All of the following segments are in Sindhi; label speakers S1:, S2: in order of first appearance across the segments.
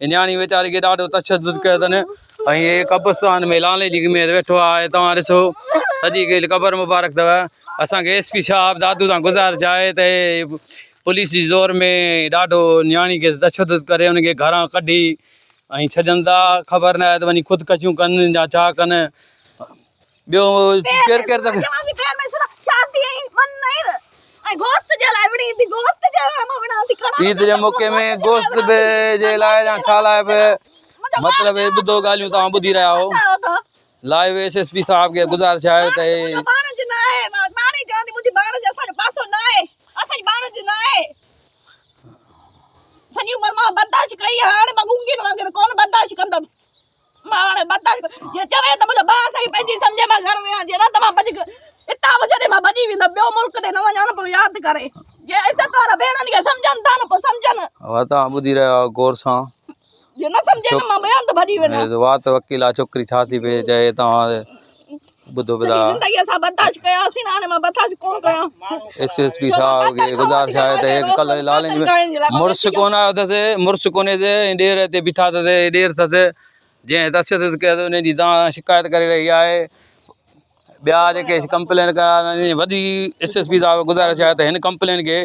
S1: هي نياڻي ويچاري کي ڏاڍو تشدد ڪيو اٿن ۽ هي قبرستان ۾ لالي جي ۾ ويٺو آهي توهان ڏسو سڄي کي قبر مبارڪ اٿو اسان کي ايس پي صاحب دادو تان گزارش آهي ته پوليس جي زور ۾ ڏاڍو نياڻي کي تشدد ڪري ان کي گهران ڪڍي ۽ ڇڏن ٿا خبر نه آهي ته وڃي خودڪشيون ڪن يا ڇا ڪن ٻيو ڪير ڪير ته عيد جي موقعي ۾ گوشت به جي لاء يا ڇا لاء به مطلب هي ٻڌو ڳالهيون توهان ٻڌي رهيا آهو لائيو ايس ايس پي صاحب کي گذارش آهي ته ماڻهن متل جي چوي ته منهنجو ڀاء سائين پنهنجي سمجهه مان گهر ويان جي رت مان ڀڄ ڪي اتان مون جڏهن مان ڀڄي ويندو ٻيو ملڪ تي نه وڃان پو ياد ڪري جي عزت وارا ڀيڻن کي سمجهن ٿا نه پو سمجهن ها تان ٻڌي رهيا غور سان جي نه سمجهي نه مان ٻيان ته ڀڄي وڃان وات وڪيل آ ڇوڪري ڇا ٿي پي چي تان ٻڌو پيا ايس ايس پي صاحب کي گذارش آهي ته هيڪ ڪل لالين مڙس ڪون آيو اٿس مڙس ڪونهي تي ڏير هتي بيٺا اٿس ڏير اٿس جنهن تشدد ڪيو اٿس ان جي دان شڪايت ڪري رهي آهي ٻيا جيڪي ڪمپلين ڪيا آهن وڏي ايس ايس پي صاحب گذارش آهي ته هن ڪمپلين کي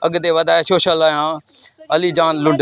S1: اڳتي وڌائي سوشل آهيان علي جان لنڊ